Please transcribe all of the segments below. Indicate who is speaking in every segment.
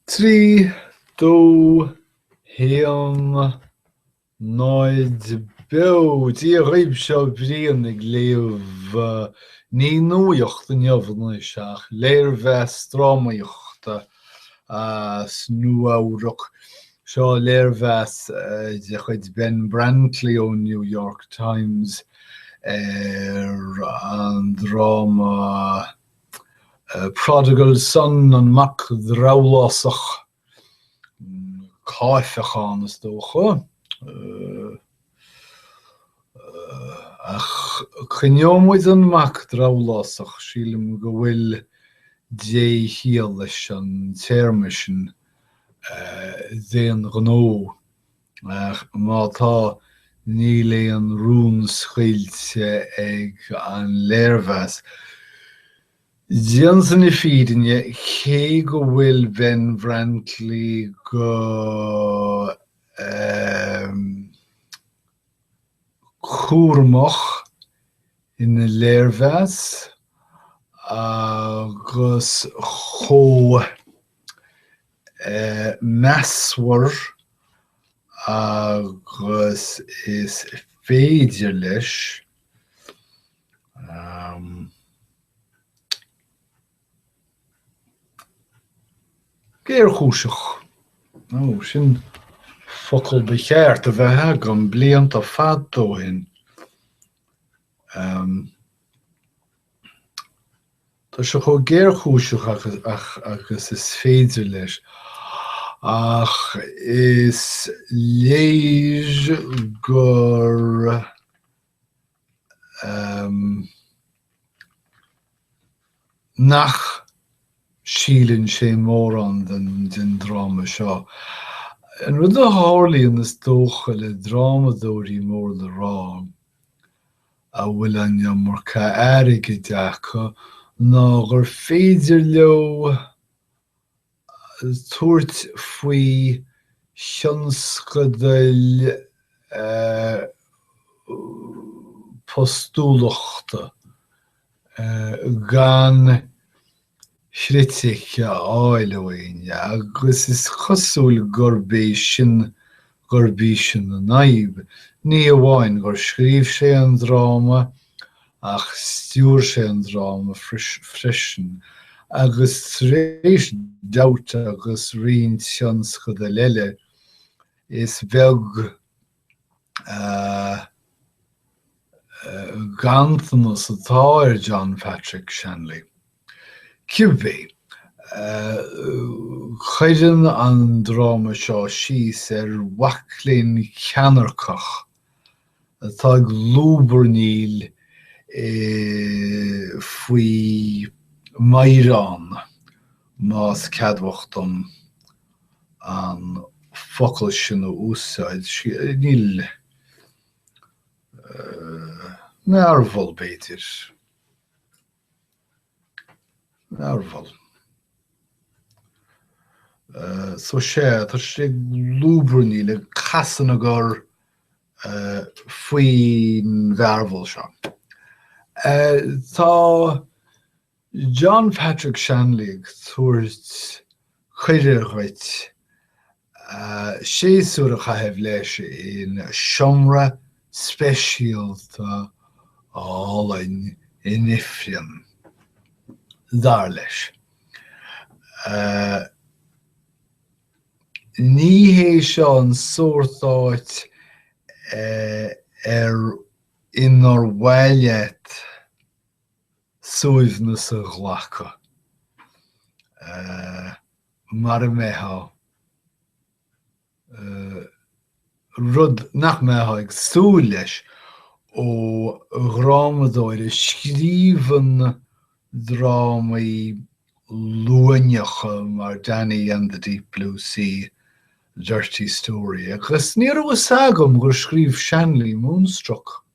Speaker 1: 3, 2, 1, 0 beo, Dia dhaoibh, seo Brian ag léamh ní nuaíocht inniu anois ach léirmheas drámaíochta as Nua-Eabhrac. Seo léirmheas de chuid Ben Brantley ón New York Times ar an dráma. Prodigal son, an mac drabhlásach, caifeachán is dócha, ach coinneoidh muid an mac drabhlásach, sílim go bhfuil déchiall leis an téarma sin, d'aon ghnó. Ach má tá, níl aon rún scaoilte ag an léirmheas. Déanta na fírinne, cé go bhfuil Ben Brantley go cúramach ina léirmheas agus chomh measartha agus is féidir leis géarchúiseach nó sin focal ba cheart a bheith agam blianta fada ó shin Tá sé chomh géarchúiseach agus is féidir leis, ach is léir gur nach síleann sé mórán den dráma seo. An rud a tharlaíonn, is dócha, le drámadóirí mór le rá a bhfuil an iomarca airgid acu ná gur féidir leo tabhairt faoi thionscadal postúlachta gan chritic a fháil uainn agus is cosúil gurb é sin gurb í sin an fhadhb, ní amháin gur scríobh sé an dráma ach stiúir sé an dráma freisin, agus tar éis Doubt agus roinnt tionscadal eile, is beag ganntanas atá ar John Patrick Shanley. Cibé, cuireann an dráma seo síos ar mhacléinn cheannairceach atá ag lúbarnaíl faoi meadhrán, más ceadmhach dom an focal sin a úsáid, níl, mearbhall b'fhéidir. mearbhall. So sé, tá sé ag lúbarnaíl ag casadh na gcor faoin mhearbhall seo. Tá John Patrick Shanley ag tabhairt cuireadh dhuit séasúr a chaitheamh leis in seomra speisialta álainn in ifreann, dar leis. Ní hé seo an sórt áit ar inar mhaith leat suaimhneas a ghlacadh mar a mbeifeá rud nach mbeifeá ag súil leis ó dhrámadóir a scríobhann drámaí luaineacha mar Danny and the Deep Blue Sea, Dirty Story, agus ní raibh fhios agam gur scríobh Shanley Moonstruck.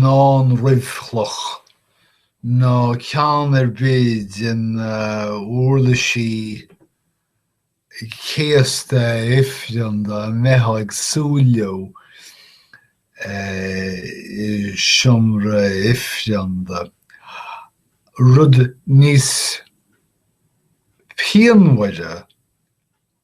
Speaker 1: ná an ruibhchloch, ná ceann ar bith de na huirlisí céasta ifreanda a mbeifeá ag súil leo i seomra ifreanda. Rud níos pianmhaire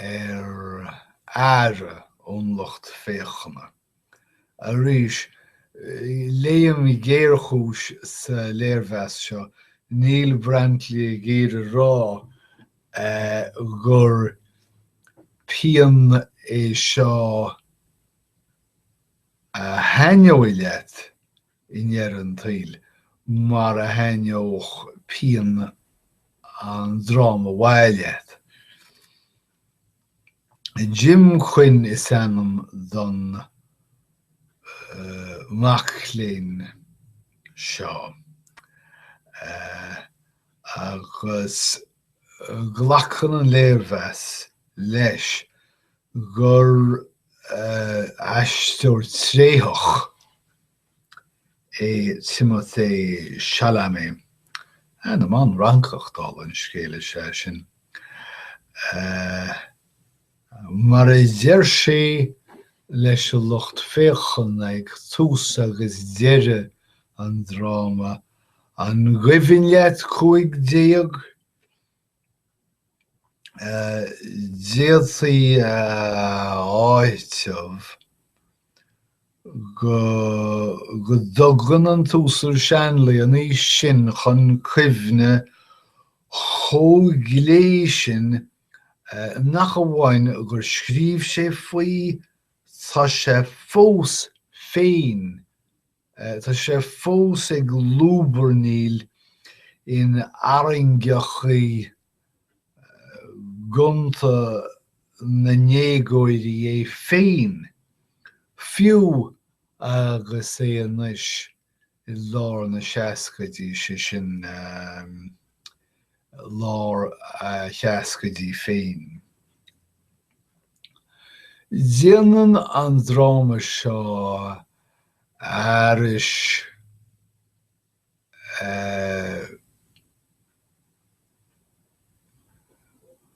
Speaker 1: ar aire ón lucht féachana. Arís, léim géarchúis sa léirmheas seo, níl Brantley ag iarraidh a rá gur pian é seo a thaitneoidh leat i ndeireadh an tsaoil, mar a thaitneodh pian an dráma mhaith leat. Jim Quinn is ainm don mhac léinn seo agus Glacann an léirmheas leis gur aisteoir tréitheach é Timothée Chalamet, ainm an-Fhrancach, dála an scéil, is ea sin. Mar a deir sé leis an lucht féachana ag tús agus deireadh an dráma, An gcuimhin leat cúig déag? D'fhéadfaí a áiteamh go dtugann an tUasal Shanley an aois sin chun cuimhne chomh glé sin nach amháin go scríobhann sé faoi, tá sé fós féin Tá sé fós ag lúbarnaíl in arraingeachaí gonta na ndéagóirí é féin, fiú agus é anois i lár na seascaidí, sé sin, lár a sheascaidí féin. Déanann an dráma seo arís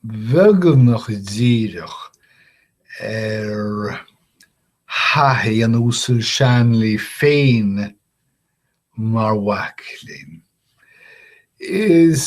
Speaker 1: beagnach díreach ar thaithí an Uasail Shanley féin mar mhac léinn. Is.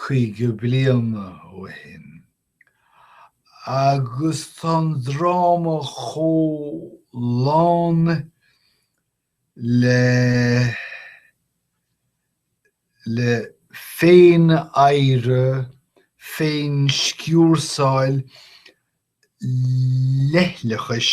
Speaker 1: caoga bliain ó shin, agus tá an dráma chomh lán le le féin-adhradh, féin-sciúrsáil, leithleachais.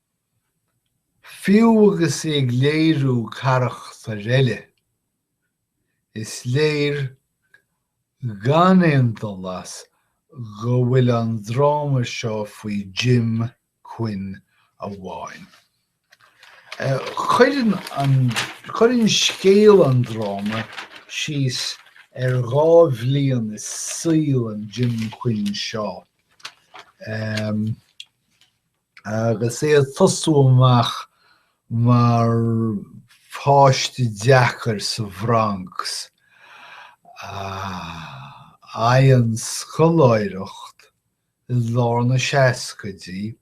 Speaker 1: Fiú agus é ag léiriú carachtair eile, is léir gan aon dul as go bhfuil an dráma seo faoi Jim Quinn amháin. Cuir, cuireann scéal an dráma síos ar dhá bhliain i saol an Jim Quinn seo. Agus é ag tosú amach mar pháiste deacair sa Bhronx, a fhaigheann scoláireacht i lár na seascaidí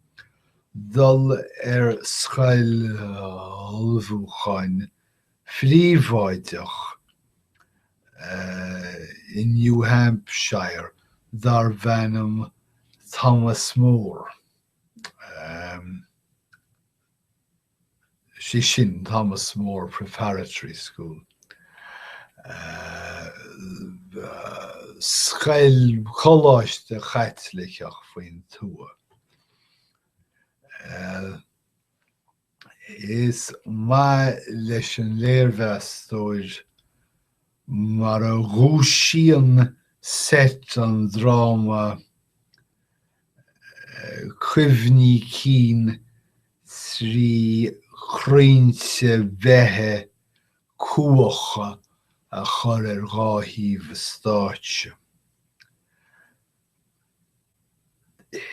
Speaker 1: dul ar scoil ullmhúcháin phríobháideach i New Hampshire darbh ainm Thomas More, is é sin, Thomas More Preparatory School, scoil, coláiste Chaitliceach faoin tuath. Is maith leis an léirmheastóir mar a dhúisíonn seit an dráma cuimhní cinn trí chrainnte beithe cumhacha a chur ar dhá thaobh an stáitse.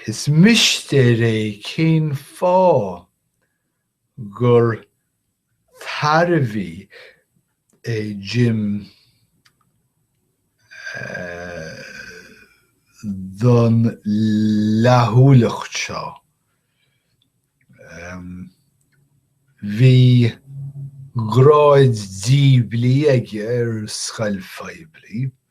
Speaker 1: Is mistéir é cén fáth gur tairbhí é Jim don fhlaithiúlacht seo. Bhí gráid diabhlaí aige ar scoil phoiblí.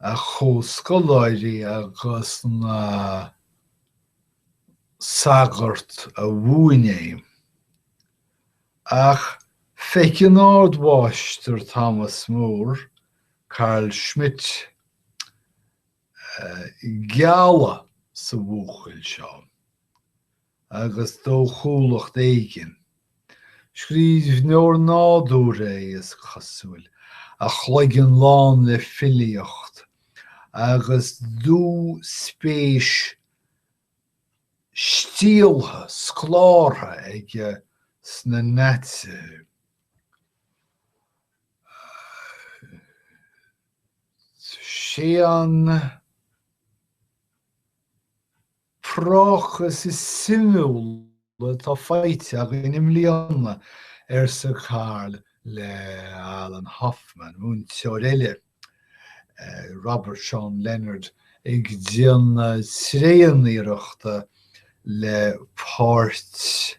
Speaker 1: a chomhscoláirí agus na sagairt a mhúin é. Ach feiceann Ardmháistir Thomas More, Carl Schmitt, gealladh sa bhuachaill seo. agus dóchúlacht éigin. Scríbhneoir nádúrtha é, is cosúil, a chloigeann lán le filíocht agus dúspéis stialltha, scolártha aige sna Naitsithe. Sé an prácás is suimiúla atá faighte againn i mbliana, arsa Carl le Alan Hoffman, múinteoir eile, Robert Sean Leonard ag déanamh tréaniarrachta le páirt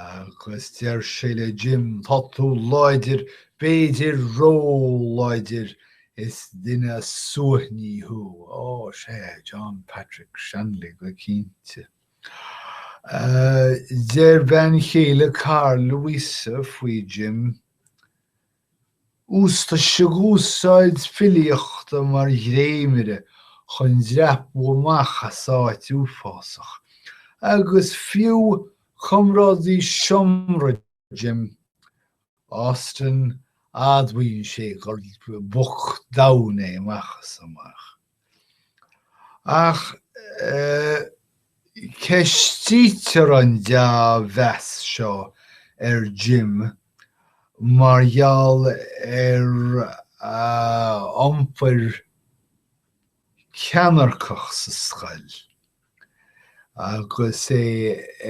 Speaker 1: Agus deir sé le Jim, tá tú láidir, b'fhéidir róláidir, is duine suaithní thú. Ó, sea, John Patrick Shanley go cinnte. Deir bean chéile Carl, Louise, faoi Jim, Úsáideadh úsáid filíochta mar dhréimire chun dreapú amach as áit uafásach, agus fiú comrádaí seomra Jim, Austin, admhaíonn sé gur boc domhain é amach is amach. Ach ceistítear an deá-mheas seo ar Jim mar gheall ar a iompar ceannairceach sa scoil, agus é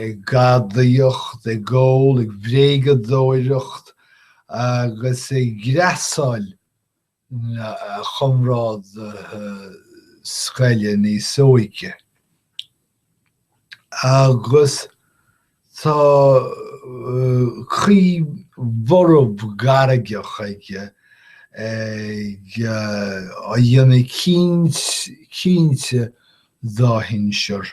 Speaker 1: ag gadaíocht, ag ól, ag bréagadóireacht agus ag greasáil a chomrádaithe scoile níos óige agus tá caoi bhorb ghairgeach aige ag áiteamh ar dhaoine áirithe dá shinsear.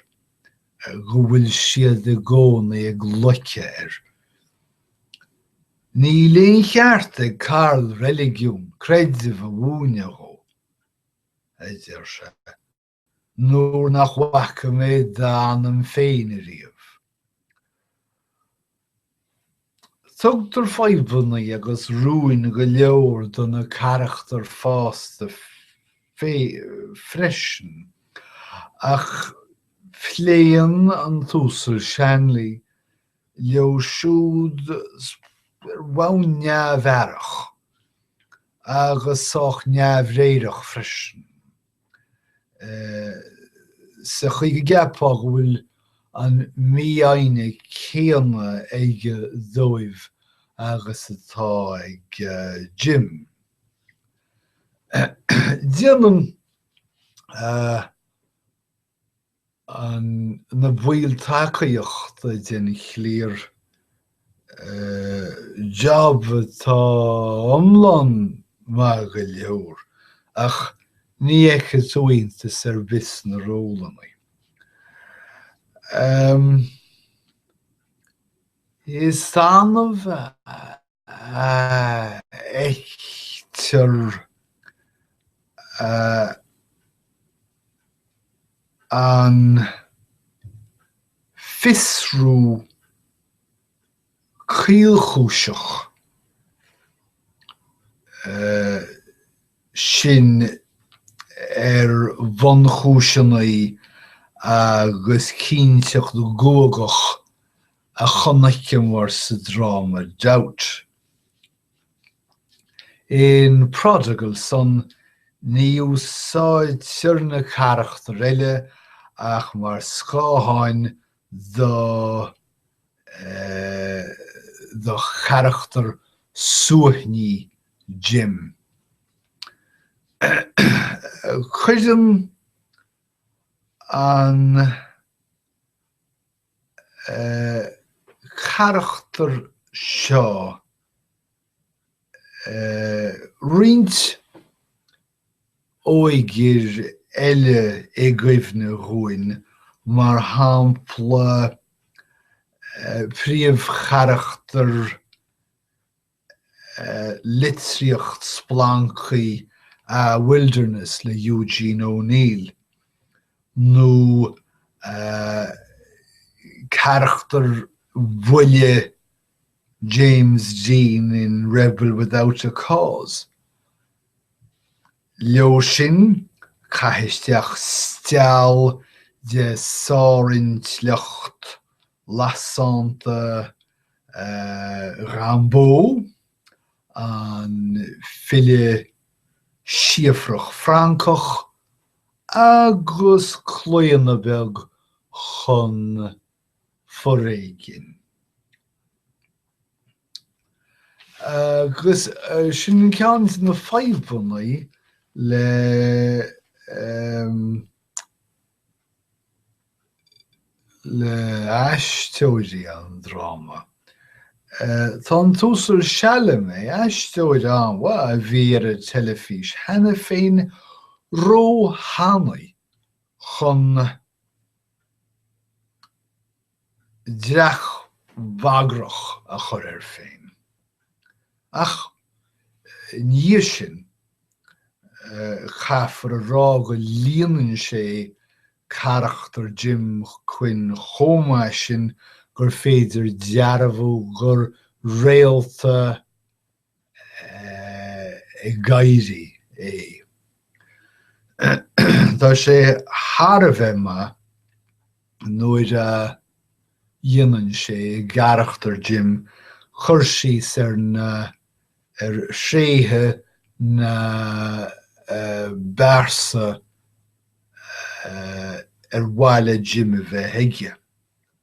Speaker 1: go bhfuil siad i gcónaí ag loiceadh air. Níl aon cheart ag Karl reiligiún, creideamh a mhúineadh dhó, a deir sé, nuair nach bhfaca tú d'anam féin ariamh. Tugtar fadhbanna agus rúin go leor do na carachtair fásta freisin, ach pléann an tUasal Shanley leo siúd ar bhonn neamh-aireach agus sách neamhréireach freisin. sa chaoi go gceapfá go bhfuil an mífhoighne céanna aige dóibh agus atá ag Jim. Déanann na baill tacaíochta den chliar job atá iomlán maith go leor ach ní fheicfeá iontas ar bith sna rólanna. Is annamh fheictear an fiosrú caolchúiseach sin ar bhunchúiseanna agus cinnteacht ghuagach a chonaiceamar sa dráma Doubt. In Prodigal Son, ní úsáidtear na carachtair eile ach mar scátháin do charachtar suaithní Jim. Cuireann an. charachtar seo roinnt laochra eile i gcuimhne dúinn, mar shampla, príomhcharachtar litríocht-splanctha Ah, Wilderness le Eugene O'Neill, nó carachtar bhuile James Dean in Rebel Without a Cause. Leo sin, caith isteach stiall de shárintleacht lasánta Rimbaud, an file síofrach Francach, agus claonadh beag chun foréigin. Agus sin ceann de na fadhbanna le. le haisteoirí an dráma. Tá an tUasal Chalamet, aisteoir an-mhaith a bhí ar an teilifís cheana féin, ró-thanaí chun. dreach bhagrach a chur air féin. Ach ina dhiaidh sin, caithfear a rá go líonann sé carachtar Jim Quinn chomh maith sin gur féidir dearbhú gur réalta, ag éirí é. Tá sé thar a bheith maith nuair a dhéanann sé, i gcarachtar Jim, cur síos ar na, ar thréithe na bpearsa ar mhaith le Jim a bheith aige.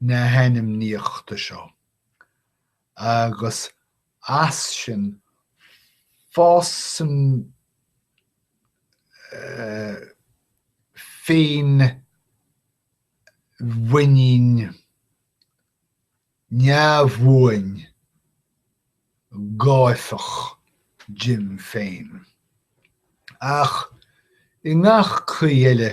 Speaker 1: na hainmníochta seo, agus as sin fásann féinmhuinín neamhbhuan gáifeach Jim féin. Ach i ngach caoi eile,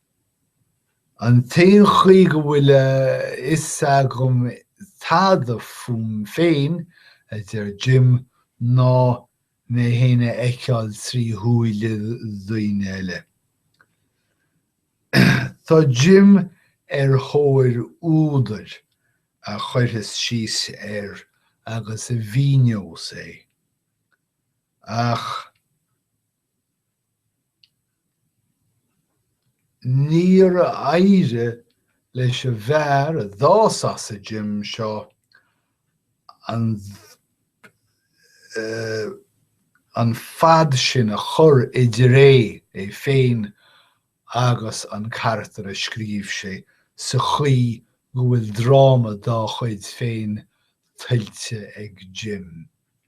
Speaker 1: An t-aon chaoi go bhfuil a fhios agam tada fúm féin, a deir Jim, ná mé féin a fheiceáil trí shúile daoine eile. Tá Jim ar thóir údair a chuirfeas síos air agus a mhíneos é, ach. Níor éirigh leis an bhfear a d'fhás as an Jim seo an fad sin a chur idir é féin agus an carachtar a scríobh sé sa chaoi go bhfuil dráma dá chuid féin tuillte ag Jim.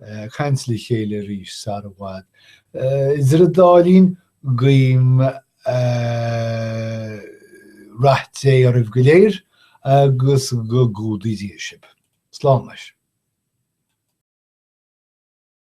Speaker 1: ag caint le chéile arís sara bhfad. Idir an dá linn, guím rath Dé oraibh go léir agus go gcumhdaí Dia sibh. Slán leis.